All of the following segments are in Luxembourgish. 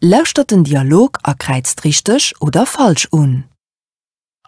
Lauschtert den Dialog a kräizt richteg oder falsch un.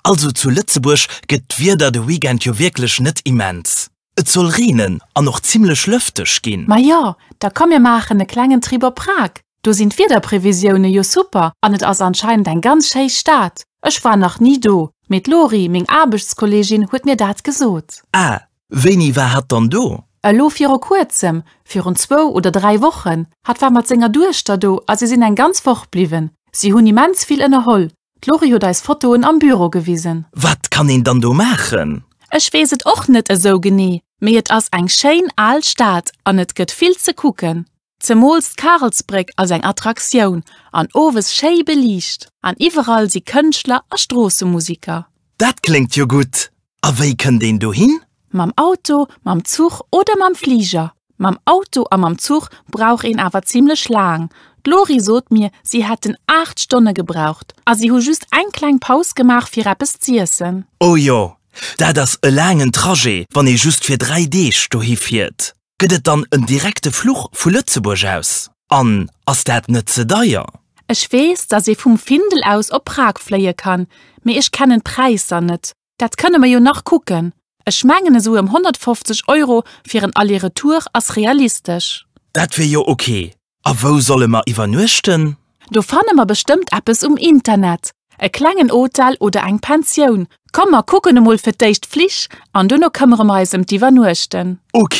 Also zu Lëtzebuerg gëtt d'Wieder de Weekend jo wierklech net immens. Et soll reenen an och zimmlech lëfteg ginn. Majo, da komm mir maachen e klengen Trip op Prag, do sinn d'Wiederprevisioune jo super an et ass anscheinend eng ganz schéi Stad. Ech war nach ni do, mee d'Lori, meng Aarbechtskolleegin, huet mir dat gesot. Ah, Wéini war hatt dann do? Elo viru kuerzem, virun zwou oder dräi Wochen. Hatt war mat senger Duechter do a si sinn eng ganz Woch bliwwen. Si hunn immens vill ënnerholl. D'Lori huet eis Fotoen am Büro gewisen. Wat kann een dann do maachen? Ech weess et och net esou genee, mee et ass eng schéin al Stad an et gëtt vill ze kucken. Zemools d'Karelsbréck ass eng Attraktioun an owes schéi beliicht an iwwerall si Kënschtler a Stroossemusiker. Dat kléngt jo gutt! A wéi kënnt een dohin? Mam Auto, mam Zuch oder mam Fliger. Mam Auto a mam Zuch brauch een awer zimmlech laang. D'Lori sot mir, si hätten 8 Stonne gebraucht a si hu just eng kleng Paus gemaach fir eppes z'iessen. Oh jo, dat ass e laangen Trajet, wann ee just fir 3 Deeg dohi fiert. Gëtt et dann en direkte Fluch vu Lëtzebuerg aus? An ass dat net ze deier? Ech weess, dass ee vum Findel aus op Prag fléie kann, mee ech kennen d'Präisser net. Dat kënne mer jo nach kucken. Ech mengen esou ëm 150 Euro fir en Aller-Retour ass realistesch. Dat wier jo ok. A wou solle mer iwwernuechten? Do fanne mer bestëmmt eppes um Internet, e klengen Hotel oder eng Pensioun. Komm mer kucken emol fir d'éischt d'Flich an duerno këmmere mer eis ëm d'Iwwernuechten. Ok.